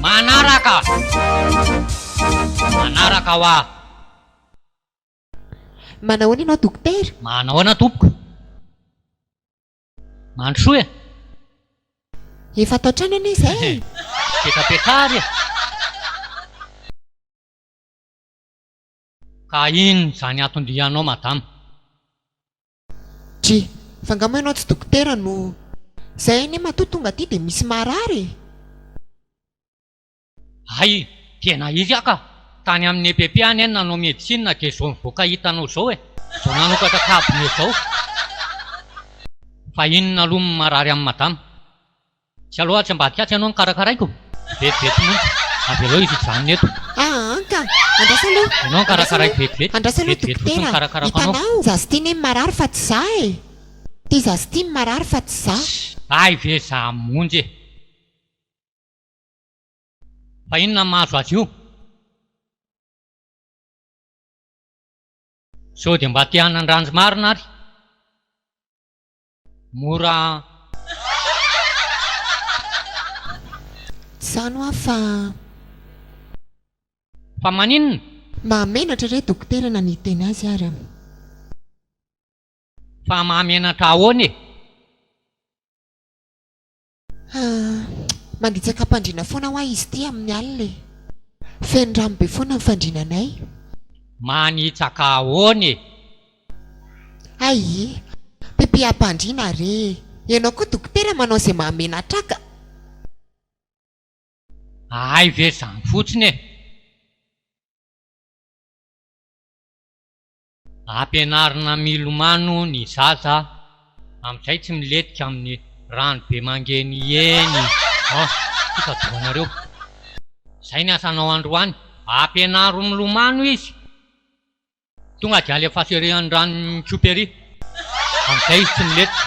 Manaraka! Manaraka hoa! Manahoana ianao dokotera? Manahoana tompoko? Mandrosoa e! Efa ato an-trano anie izay e! Petrapetra ary e! Ka in zany atondrianao madama? Dry, fa nga moa ianao tsy dokotera no. Zay anie matoa tonga aty dia misy marary e! Hay, tena izy aho ka! Tany amin'ny EPP anie no nanao medecine dia izao nivoaka hitanao izao e! Izao nanokatra cabinet izao! Fa inona aloha no marary an'i madama? Tsy aleo atsy ambadika atsy ianao no karakaraiko? Vetivety monja. Avelao izy hijanona eto. Aa ka! Andraso aloha. Ianao no karakaraiko vetivety. Andraso aloha dokotera. Hitanao ny Zazitiny iny marary fa tsy za e! Ty Zazitiny marary fa tsy za. Hay ve za monja e! Fa inona no mahazo azy io? Sao dia mba te hanandranjy marina ary? Mora an! Zany hoa fa. Fa maninona? Mahamenatra re dokotera na ny hiteny azy ary. Fa mahamenatra ahoana e? Ahh. Manditsaka am-pandriana foana hoa izy ity amin'ny alina e. Feno rano be foana ny fandriana anay. Manitsaka ahoana e? Ayii. Pipiham-pandriana re e. Ianao koa dokotera manao izay mahamenatra ka. Ahay ve izany fotsiny e. Ampianarina milomano ny zaza amin'izay tsy milentika amin'ny rano be mangen'i eny an! Ty ka dohanareo. Izay ny asanao androany, ampianaro milomano izy, tonga dia alefaso ery amin'ny ranon'ny tsiopa ery, amin'izay izy tsy milentika.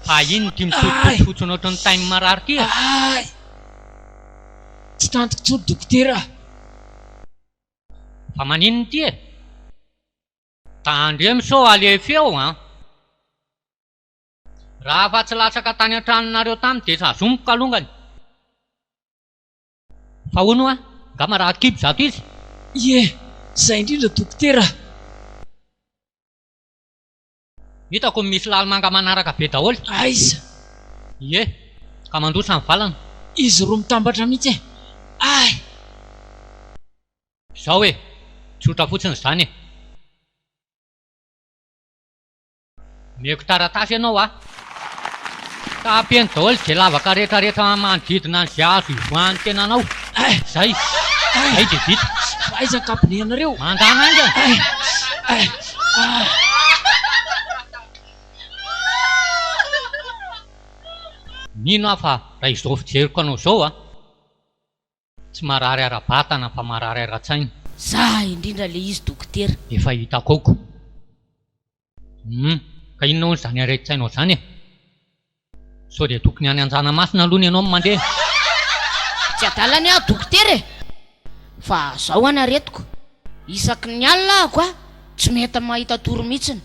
Fa inona ity mitsotsotsotso ohatran'ny tain'ny marary ity e? Tsy tantiko intsony dokotera a! Fa maninona ity e? Tandremo sao alefeo an! Raha afa tsy latsaka tany an-tranonareo tany dia sazomiko kalongany! Fa hono hoa, nga marary kibo zato izy? Ie, zay indrindra dokotera a! Hitako ny misy lalimanga manaraka be daholo. Aiza? Ie, ka mandroso any valana. Izy roa mitambatra mihitsy e! Ay! Izao e! Tsotra fotsiny izany e! Omeko taratasy ianao a! Ka ampiany daholo izay lavaka rehetrarehetra manodidina an'izay azo hivoahan'ny tenanao. Izay. Izay dia vita. Aiza ny kabineanareo? Mandà manga. Mino aho fa raha izao fijeriko anao izao a! Tsy marary ara-batana fa marary ara-tsaina. Sa indrindra le izy dokotera. Efa hitako ao ko. Humm ka inona hono zany aretin-tsainao zany e? Sao dia tokony any anjanamasina aloha ny anao no mandeha? Tsy adala ny ahy dokotera e! Fa zao an aretiko, isaky ny alina ahako a tsy mety mahita tory mihitsiny,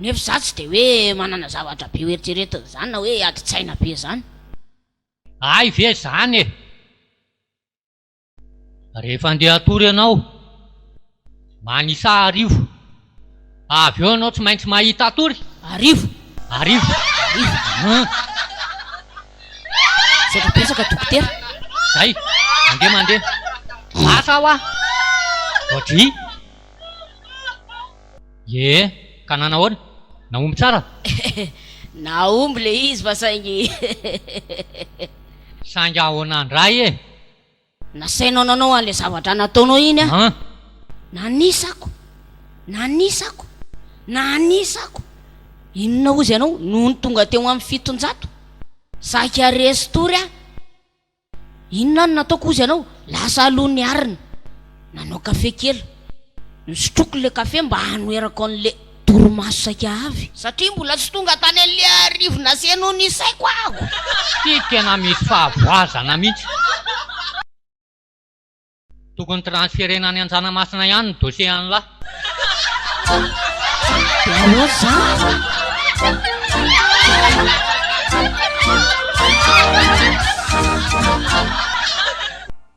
nefa za tsy de hoe manana zavatra be ho eritreretina zany na hoe adin-tsaina be zany. Hay ve izany e! Rehefa andeha hatory ianao, manisa arivo. Avy eo ianao tsy maintsy mahita tory. Arivo! Arivo! Arivo! Hum! Misaotra betsaka dokotera. Zay! Mandeha mandeha. Lasa hoa! Voadry! Ye, ka nanahoana? Nahomby tsara? Hehe, nahomby le izy fa saingy hehehehehehe. Saingy ahoana ndray e? Nasainao nanao an'le zavatra nataonao iny aho. An? Nanisako, nanisako, nanisako. Inona hozy ianao nony tonga teo amin'ny fitonjato? Saika resin-tory aho. Inona no nataoko hozy anao? Lasa aloha ny arina. Nanao kafe kely. Nosotroiko ilay kafe mba hanoherako an'ilay torimaso saika avy. Satria mbola tsy tonga tany an'ilay arivona sy henoy ny saiko aho. Ity tena mety fahavoazana mihitsy. Tokony transferena any Anjanamasina ihany ny dossier an'i lah.